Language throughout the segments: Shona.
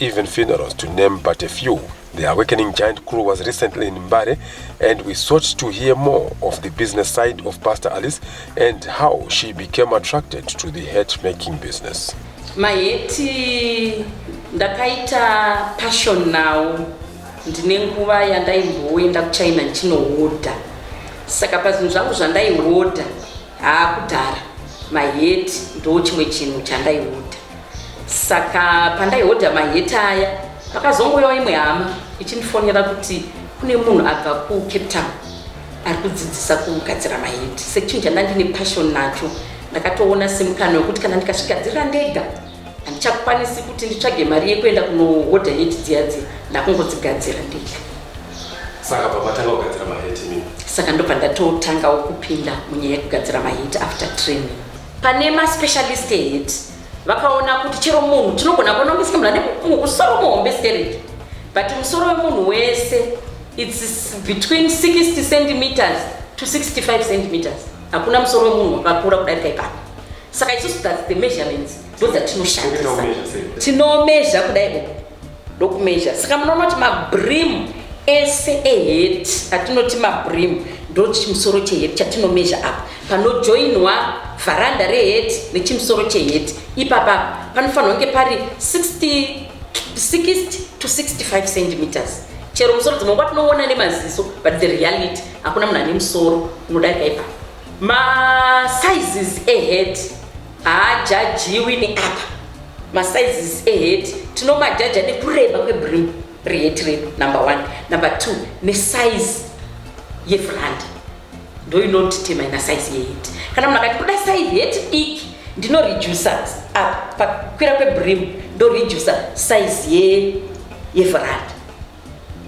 even funerals to name but a few. The Awakening Giant crew was recently in Mbare and we sought to hear more of the business side of Pastor Alice and how she became attracted to the hat making business. Maheti ndakaita passion now ndine nguva yandaimboenda kuchina ndichinohodha saka pazvinhu zvangu zvandaihodha Haa kudhara maheti ndo chimwe chinhu chandaihodha saka pandaihodha maheti aya pakazongoyawo imwe hama ichindifonera kuti kune munhu abva kucape town ari kudzidzisa kugadzira maheti sechinhu chandandine passion nacho ndakatoona semukana wekuti kana ndikazvigadzirira ndega handichakwanisi kuti nditsvage mari yekuenda kunohodha heti dziya dziya ndakungodzigadzira ndega saka baba tanga kugadzira maheti mimi saka ndobva ndatotangawo kupinda munyaya yekugadzira maheti after training pane maspecialist eheti vakaona kuti chero munhu tinogona kuona kungesike munhu ane musoro muhombe stereki but musoro wemunhu wese its between 60 centimeters to 65 centimeters hakuna musoro wemunhu wakakura kudarika ipapo saka isusu thats the measurements ndo dzatinoshandisa tinomezha kudai uku ndokumezha saka munoona kuti mabrim ese ehet atinoti mabrim ndo chimusoro chehet chatinomezha apa panojoinwa vharanda rehet nechimusoro chehet ipapa panofanira kunge pari 60 60 to 65 centimeters chero musoro dzimwe nguva tinoona nemaziso but the reality hakuna munhu ane musoro unodarika ipapa Ma sizes e head haajajiwi neapa. Ma sizes e head tinomajaja nekureba kwebrim rehead redu number one. Number two ne size yefront ndoinotitema ina size yehead. Kana munhu akati kuda size head diki ndinoreducer apa pakwira kwebrim ndoreducer size ye yefront.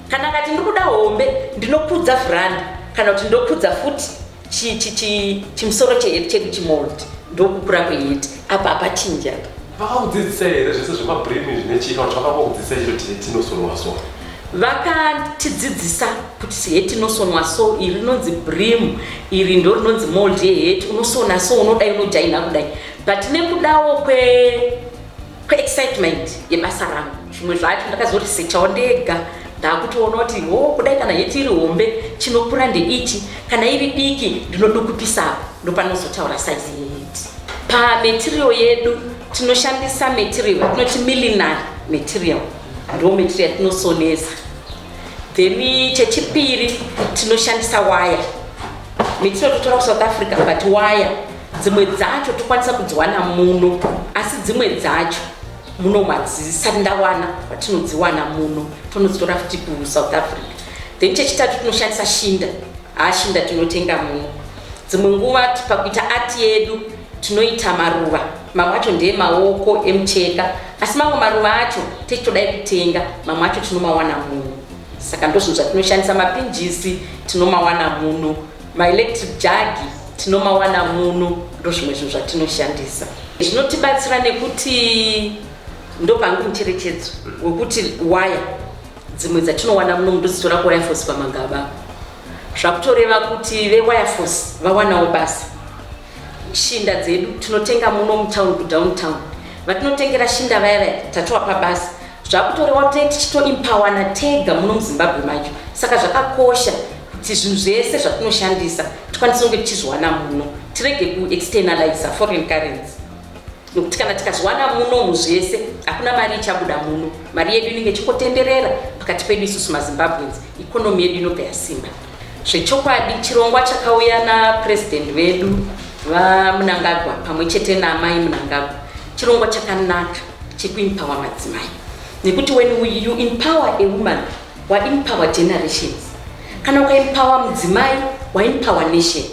kana kati ndikuda hombe ndinokudza vranda kana kuti ndokudza futi chimusoro cheheti chedu chimold ndokukura kweheti apa apachinja vakakudzidzisa here zvese zvemabrimi zvine chii kana vakakudzidzisa chiro tinosonwa so vakatidzidzisa kuti heti inosonwa so iri rinonzi brim iri ndo rinonzi mold yeheti unosona so unodai unojaina kudai but nekudawo kwe kweexcitement yebasa rangu zvimwe zvacho ndakazoresechawo ndega ndaakutoona kuti ho kudai kana heti iri hombe chinokura ndeichi kana iri diki ndinodukupisapo ndopanozotaura saizi yeheti pamatirio yedu tinoshandisa material tinoti millinar material ndo material tinosonesa then chechipiri tinoshandisa waya material totora kusouth africa but waya dzimwe dzacho tokwanisa kudziwana muno asi dzimwe dzacho muno madzisati ndawana vatinodziwana muno tonodzitora futi kusouth africa then chechitatu tinoshandisa shinda haashinda tinotenga muno dzimwe nguva pakuita ati yedu tinoita maruva mamwe acho ndeemaoko emucheka asi mamwe maruva acho techitodai kutenga mamwe acho tinomawana muno saka ndozvinhu zvatinoshandisa mapinjisi tinomawana muno Maelectric jagi tinomawana muno ndozvimwe zvinhu zvatinoshandisa zvinotibatsira nekuti ndopangu mucherechedzo wekuti waya dzimwe dzatinowana muno ndodzitora kuwaya force pamagaba zvakutoreva kuti vewaya force vawanawo basa shinda dzedu tinotenga muno mutown kudowntown vatinotengera shinda vaya vaya tatovapa basa zvakutorewa tee tichitoimpawana tega muno muzimbabwe macho saka zvakakosha kuti zvinhu zvese zvatinoshandisa tikwanise kunge tichizviwana muno tirege kuexternaliza foreign currency nokuti kana tikazviwana muno mu zvese hakuna mari ichabuda muno mari yedu inenge ichingotenderera pakati pedu isusu mazimbabweans economy yedu inobva yasimba Zvechokwadi chirongwa chakauya naPresident vedu VaMnangagwa pamwe chete naAmai Mnangagwa chirongwa chakanaka chekuempower madzimai nekuti when you empower a woman waempower generations kana ukaempower mudzimai waempower nation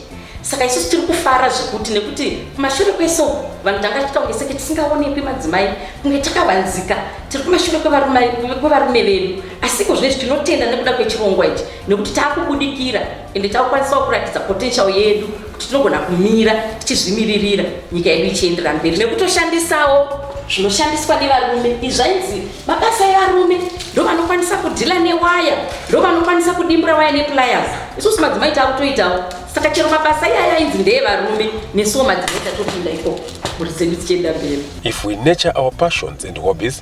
saka isusu tiri kufara zvekuti nekuti kumashure kweso vanhu tanga tiita kunge seke tisingaonekwi madzimai kunge takavanzika tiri kumashure kwevarume vedu asiko zvinezvi tinotenda nekuda kwechirongwa ichi nekuti taakubudikira ende takukwanisawo kuratidza potential yedu kuti tinogona kumira tichizvimiririra nyika yedu ichiendera mberi nekutoshandisawo zvinoshandiswa nevarume izvainzi mabasa evarume ndovanokwanisa kudhila newaya ndovanokwanisa kudimbura waya nepliers isusu madzimai taakutoitawo saka chero mabasa iyaya ainzi ndeevarume nesuwo madzimai tatopinda ikoko mhuri dzedu dzichienda mberi if we nature our passions and hobbies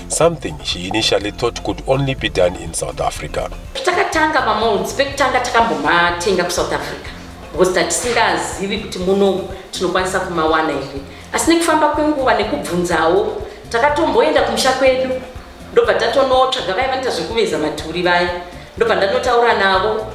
something she initially thought could only be done in South Africa. Takatanga mamounts pekutanga takambomatenga kuSouth Africa because tatisingazivi kuti muno tinokwanisa kumawana here asi nekufamba kwenguva nekubvunzawo takatomboenda kumusha kwedu ndobva tatonotsvaga vaya vanoita zvekuveza maturi vaya ndobva ndanotaura navo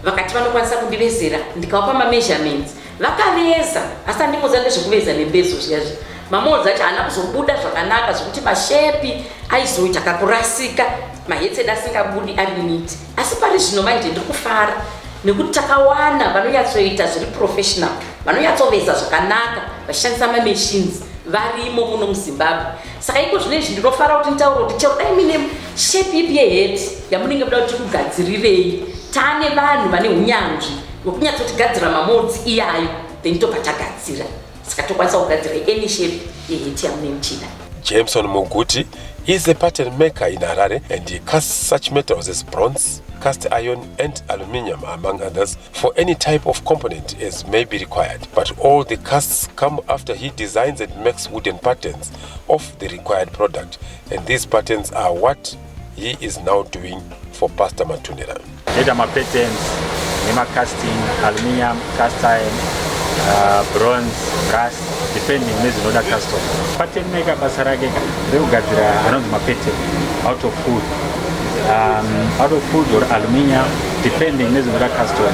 vakati vanokwanisa kundivezera ndikavapa mameasurements Vakaveza asi tandimuudza nezvekuveza nembezo zviya zviya mamoodzi acho haana kuzobuda zvakanaka zvekuti mashepi aizoita kakurasika mahetsed asingabudi ari niti asi pari zvino manje ndiri kufara nekuti takawana vanonyatsoita zviri professional vanonyatsoveza zvakanaka vachishandisa mamachines varimo muno muzimbabwe saka iko zvino izvi ndinofara kuti nditaura kuti chero dai mine shepi ipi yehed yamunenge muda kuti tikugadzirirei tane vanhu vane unyanzvi wekunyatsotigadzira mamolds iyayo then tobva tagadzira saka tokwanisa kugadzira any shape yeheti yamune muchida jameson muguti is a pattern maker in harare and he casts such metals as bronze cast iron and aluminium among others for any type of component as may be required but all the casts come after he designs and makes wooden patterns of the required product and these patterns are what he is now doing for pastor matunira data mapatterns nemacasting aluminium cast iron uh, bronze brass depending nezvinoda custom pattern maker basa rake rekugadzira anonzi mapattern out of food um, out of food or aluminium depending nezvinoda custom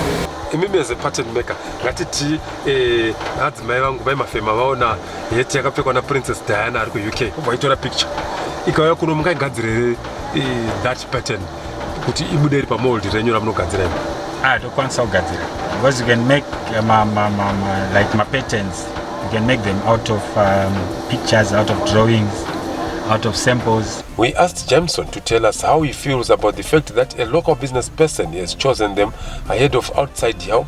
imi meze pattern maker ngatiti eh, adzimai vangu vaimafema vaona heti yakapfekwa naprincess diana ari kuuk kubva itora picture ikauya kuno mungaigadzire eh, that pattern kuti ibude iri pamold renyu ramunogadzira imi ah, tokwanisa kugadzira because you can make eh, ma, ma, ma, ma, like mapatterns you can make them out of um, pictures out of drawings out of samples. We asked Jameson to tell us how he feels about the fact that a local business person has chosen them ahead of outside help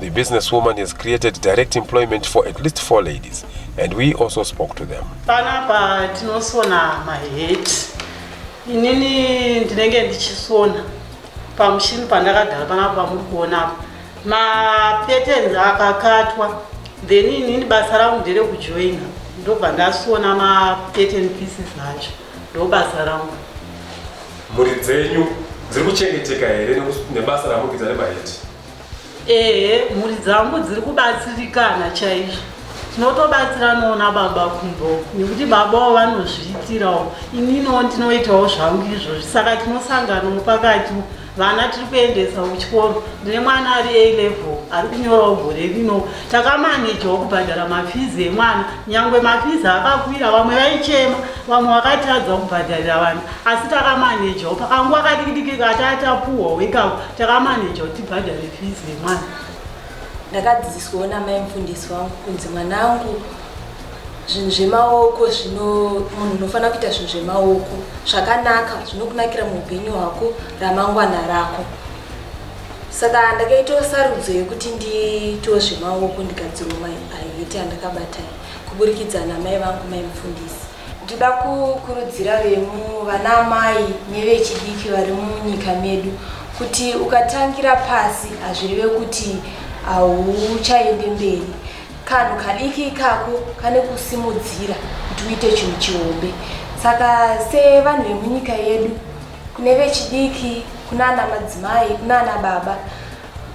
The businesswoman has created direct employment for at least four ladies and we also spoke to them. Panapa tinosona my head. Inini ndinenge ndichisona pamushini pandakagara panapa pamuri kuona apa. Mapatterns akakatwa then inini basa rangu ndere kujoina ndobva ndasona mapattern pieces acho ndobasa rangu. Mhuri dzenyu dziri kuchengeteka here nebasa ramukuita remaheti? Ehe, mhuri dzangu dziri kubatsirikana chaizvo. Tinotobatsiranawo nababa kumbo nekuti babawo vanozviitirawo, ininiwo ndinoitawo zvangu izvozvi, saka tinosanganawo pakati. Vana tiri kuendesa kuchikoro, ndine mwana ari A level ari kunyorawo gore rino. Takamanejawo kubhadhara mafizi emwana, nyangwe mafizi akakwira, vamwe vaichema, vamwe vakatadza kubhadharira vana, asi takamanejawo. Pakanguva kadikidiki katatapuhwa wekako, takamaneja kuti tibhadhare fizi yemwana ndakadzidziswawo namai mufundisi wangu kunzi mwana angu zvinhu zvemaoko zvino munhu unofanira kuita zvinhu zvemaoko zvakanaka zvinokunakira muupenyu hwako ramangwana rako saka ndakaitawo sarudzo yekuti ndiitawo zvemaoko ndigadzirwa maiheti andakabata kuburikidza namai vangu mai mufundisi Ndoda kukurudzira vemu vana amai nevechidiki vari munyika medu kuti ukatangira pasi hazvireve kuti hauchaende mberi. Kanhu kadiki ikako kane kusimudzira kuti uite chinhu chihombe. Saka sevanhu vemunyika yedu kune vechidiki, kunana madzimai, kunana baba,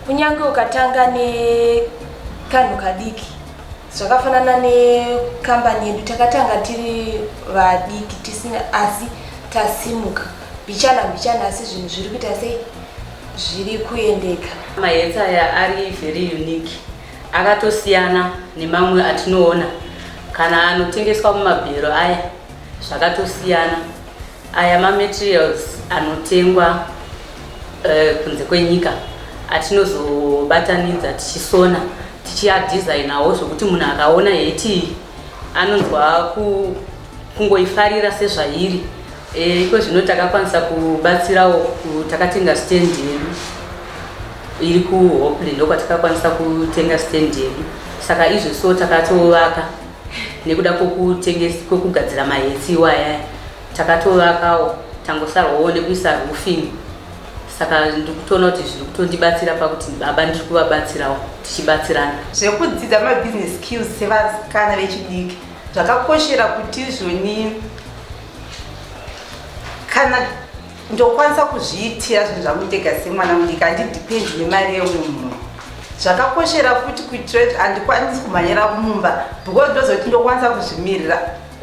kunyange ukatanga nekanhu kadiki Zvakafanana nekambani yedu takatanga tiri vadiki tisina asi tasimuka mbichana mbichana asi zvinhu zviri kuita sei zviri kuendeka. Magetsi aya ari very unique akatosiyana nemamwe atinoona kana anotengeswa mumabhero aya zvakatosiyana. Aya mamaterials anotengwa uh, kunze kwenyika atinozobatanidza tichisona tichiadesignawo zvekuti munhu akaona heti anonzwa kungoifarira sezvairi e, iko zvino takakwanisa kubatsirawo takatenga stand yedu iri kuhopley ndokwatakakwanisa kutenga stand yedu saka izvo so takatovaka nekuda kwekugadzira mahetsi iwayaya takatovakawo tangosarwawo nekuisa roofing saka ndikutoona kuti zviri kutondibatsira pakuti baba ndiri kuvabatsirawo tichibatsirana zvekudzidza mabusiness skills sevakana vechidiki zvakakoshera kuti izvoni kana ndokwanisa kuzviitira zvinhu zvangu ndega semwana mudiki handidipendi nemari yeumwe munhu zvakakoshera futi kuitira kuti handikwanisi kumhanyira kumumba because ndozoti ndokwanisa kuzvimirira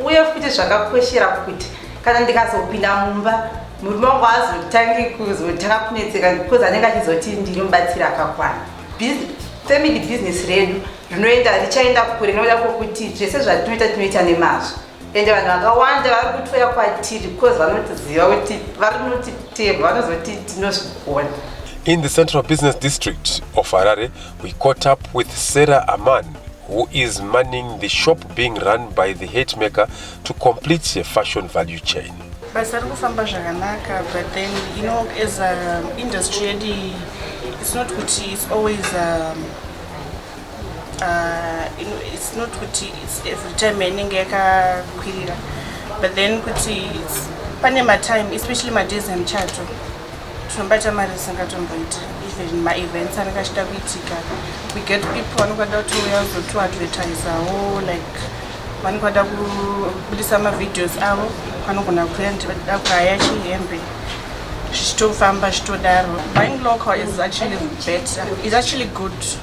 uye futi zvakakoshera kuti kana ndikazopinda mumba murume wangu azotangi kuzotanga kunetseka because anenge achizoti ndiri mubatsiri akakwana family business redu rinoenda richaenda kure nokuda kwokuti zvese zvatinoita tinoita nemazvo ende vanhu vakawanda vari kutouya kwatiri because vanotiziva kuti vari kunotiteva vanozoti tinozvigona In the Central Business District of Harare, we caught up with Sarah Aman, who is manning the shop being run by the hate maker to complete the fashion value chain. Basa riri kufamba zvakanaka but then you know as a industry yedu it's not kuti it's always um, uh, you know, it's not kuti it's every time inenge yakakwirira but then kuti pane matime especially madays emuchato tinobata mari dzisingatomboiti even maevents anenge achida kuitika we get people vanenge vada kutouya kuzotoadvertisawo like vanenge vada kubudisa mavideos avo vanogona kuuya ndida kuhaya chihembe zvichitofamba zvichitodaro buying local is actually better is actually good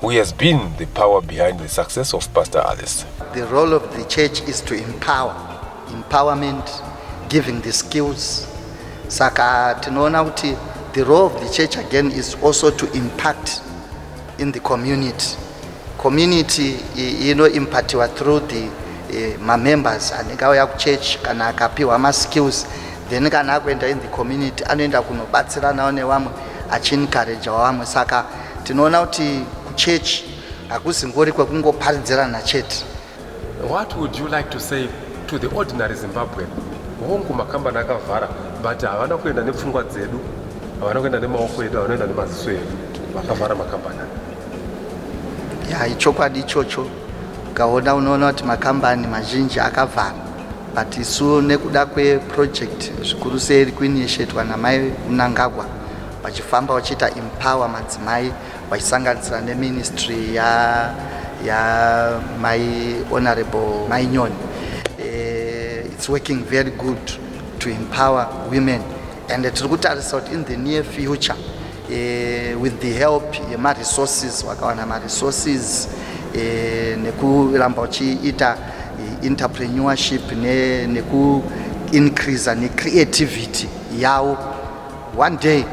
who has been the power behind the success of Pastor Alice. The role of the church is to empower, empowerment, giving the skills. Saka tinoona kuti the role of the church again is also to impact in the community. Community ino impactiwa through the eh, mamembers anenge auya kuchurch kana akapiwa maskills then kana akuenda in the community anoenda kunobatsiranawo nevamwe achiencouragewa vamwe saka Tinoona kuti kuchechi hakuzingori kwekungoparidzirana chete. What would you like to say to the ordinary Zimbabwean? Hongu makambani akavhara but havana kuenda nepfungwa dzedu, havana kuenda nemaoko edu, havanoenda nemaziso edu. Vakavhara makambani ya ichokwadi ichocho ukaona unoona kuti makambani mazhinji akavhara but isu nekuda kweproject zvikuru sei iri kuinishetwa namai mnangagwa vachifamba vachiita empower madzimai vachisanganisira neministry ya ya my honorable mai nyoni uh, it's working very good to empower women and tiri kutarisa kuti in the near future uh, with the help yemaresources wakawana maresources uh, eh, nekuramba uchiita entrepreneurship nekuincreasa ne necreativity yawo One day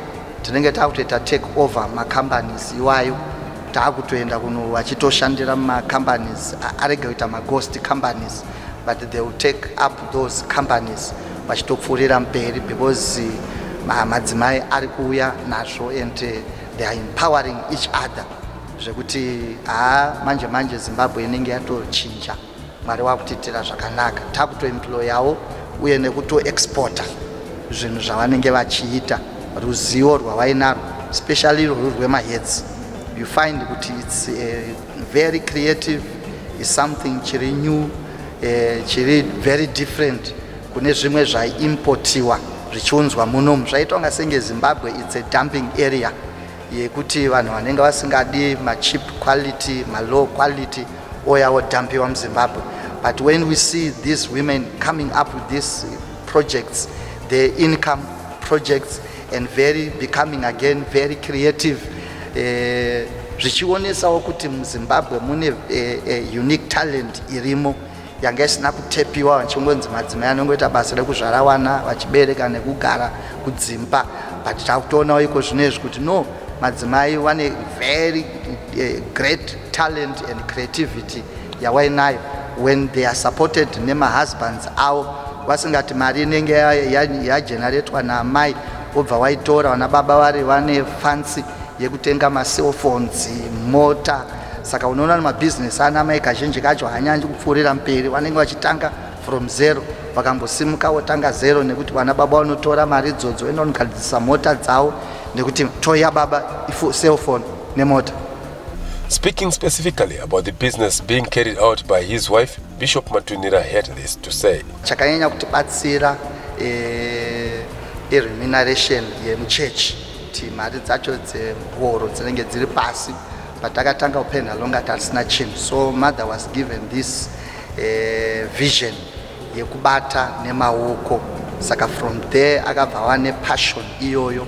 tinenge takutoita take over macompanies iwayo taakutoenda kuno vachitoshandira macompanies arege kuita maghost companies but they will take up those companies vachitopfuurira mberi because madzimai ari kuuya nazvo and eh, they are empowering each other zvekuti haa manje manje zimbabwe inenge yatochinja mwari wakutiitira zvakanaka takutoemployawo uye nekutoexporta zvinhu zvavanenge vachiita ruzivo rwavainarwo especially rwuri rwemahedzi you find kuti its eh, very creative is something chiri new eh, chiri very different kune zvimwe zvaiimpotiwa zvichiunzwa munomu zvaitwa nga senge zimbabwe its a dumping area yekuti vanhu vanenge vasingadi machip quality malow quality oya odhampiwa muzimbabwe but when we see these women coming up with these projects their income projects and very becoming again very creative eh, zvichionesawo uh, kuti muzimbabwe mune uh, uh, unique talent irimo yanga isina kutepiwa vachingonzi madzimai anongoita basa rekuzvara wana vachibereka nekugara kudzimba but takutoonawo iko zvino izvi kuti no madzimai vane very uh, great talent and creativity yawainayo when they are supported nemahusbands avo vasingati mari inenge yageneratwa ya, ya naamai wobva waitora vana baba vari vane fancy yekutenga macellphones mota saka unoona nemabhizinesi ana amai kazhinji kacho hanyanyi kupfuurira mberi vanenge vachitanga from zero vakambosimuka votanga zero nekuti vana baba vanotora mari idzodzo inoonogadzisa mota dzavo nekuti toya baba cellphone nemota Speaking specifically about the business being carried out by his wife, Bishop Matunira had this to say. Chakanyanya kutibatsira eh, remuneration yemuchechi kuti mari dzacho dzehoro dzinenge dziri pasi patakatanga kupenha longa tasina chinhu so mother was given this eh, vision yekubata nemaoko saka from there akabva ava nepassion iyoyo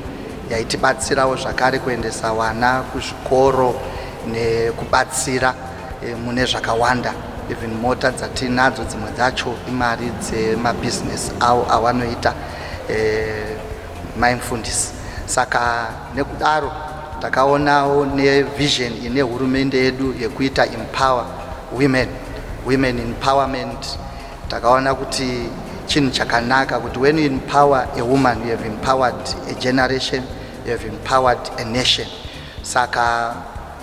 yaitibatsirawo zvakare kuendesa vana kuzvikoro nekubatsira e, mune zvakawanda even mota dzatinadzo dzimwe dzacho imari dzemabhizinesi avo avanoita e, eh, maimfundisi saka nekudaro takaonawo nevision ine hurumende yedu yekuita empower women women empowerment takaona kuti chinhu chakanaka kuti when you empower a woman you have empowered a generation you have empowered a nation saka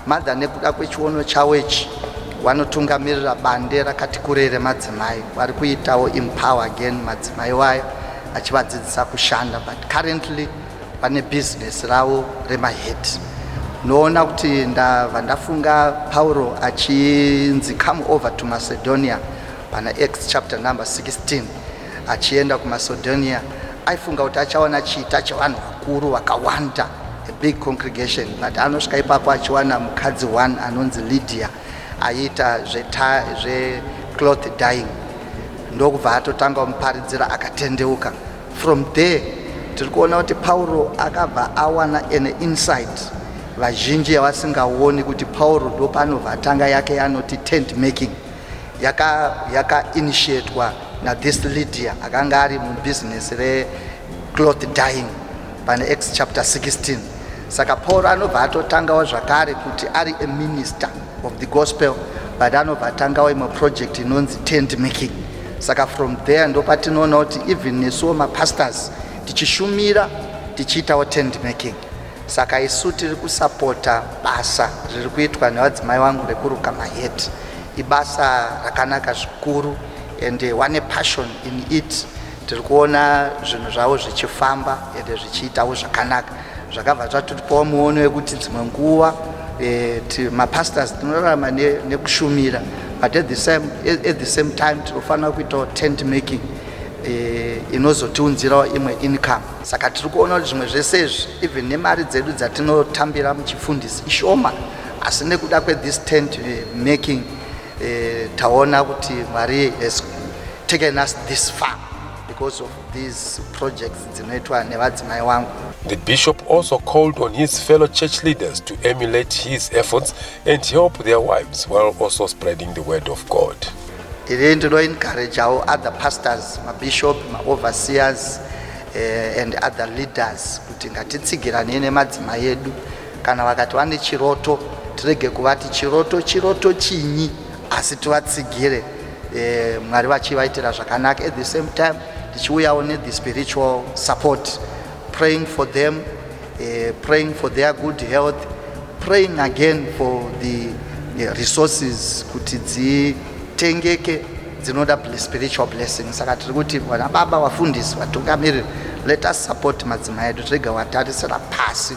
madha nekuda kwechiono chavo ichi vanotungamirira bande rakati kurei remadzimai vari kuitawo empower again madzimai wayo achivadzidzisa kushanda but currently pane business ravo remahead noona kuti ndava ndafunga pauro achinzi come over to macedonia pana acts chapter number 16 achienda kumacedonia aifunga kuti achaona chiita chevanhu vakuru vakawanda a big congregation but anosvika ipapo achiwana mukadzi one anonzi lydia aiita zvecloth dying ndokubva atotanga muparidzira akatendeuka From there tiri kuona kuti Pauro akabva awana an insight vazhinji yavasingaoni kuti Pauro ndo panovatanga yake yanoti tent making yaka yaka initiatwa na this Lydia akanga ari mu business re cloth dyeing pane Acts chapter 16 saka Pauro anobva atotangawo zvakare kuti ari a minister of the gospel but anobva atangawo imwe project inonzi tent making saka from there ndopatinoona kuti even nesuwo mapastors tichishumira tichiitawo tent making saka isu tiri kusapota basa riri kuitwa nevadzimai vangu rekuruka maheti ibasa rakanaka zvikuru and one eh, passion in it tiri kuona zvinhu zvavo zvichifamba ende zvichiitawo zvakanaka zvakabva zvatipawo muono wekuti dzimwe nguva eh, mapastors tinorarama nekushumira but at the same, at the same time tinofanira kuitawo tent making eh, inozotiunzirawo imwe income saka tiri kuona kuti zvimwe zvese izvi even nemari dzedu dzatinotambira muchifundisi ishoma asi nekuda kwethis tent eh, making taona kuti mwari has taken us this far because of These projects dzinoitwa nevadzimai wangu. The bishop also called on his fellow church leaders to emulate his efforts and help their wives while also spreading the word of God. Iri ndinoencourageawo other pastors, mabishop, maoverseers eh, and other leaders kuti ngatitsigiranei nemadzimai edu kana vakati vane chiroto tirege kuvati chiroto chiroto chinyi asi tivatsigire eh, mwari vachivaitira zvakanaka at the same time tichiuyawo nethe spiritual support praying for them eh, praying for their good health praying again for the eh, resources kuti dzitengeke dzinoda spiritual blessing saka tiri kuti vana baba vafundisi vatungamiriri let us support madzimai edu tirega watarisira pasi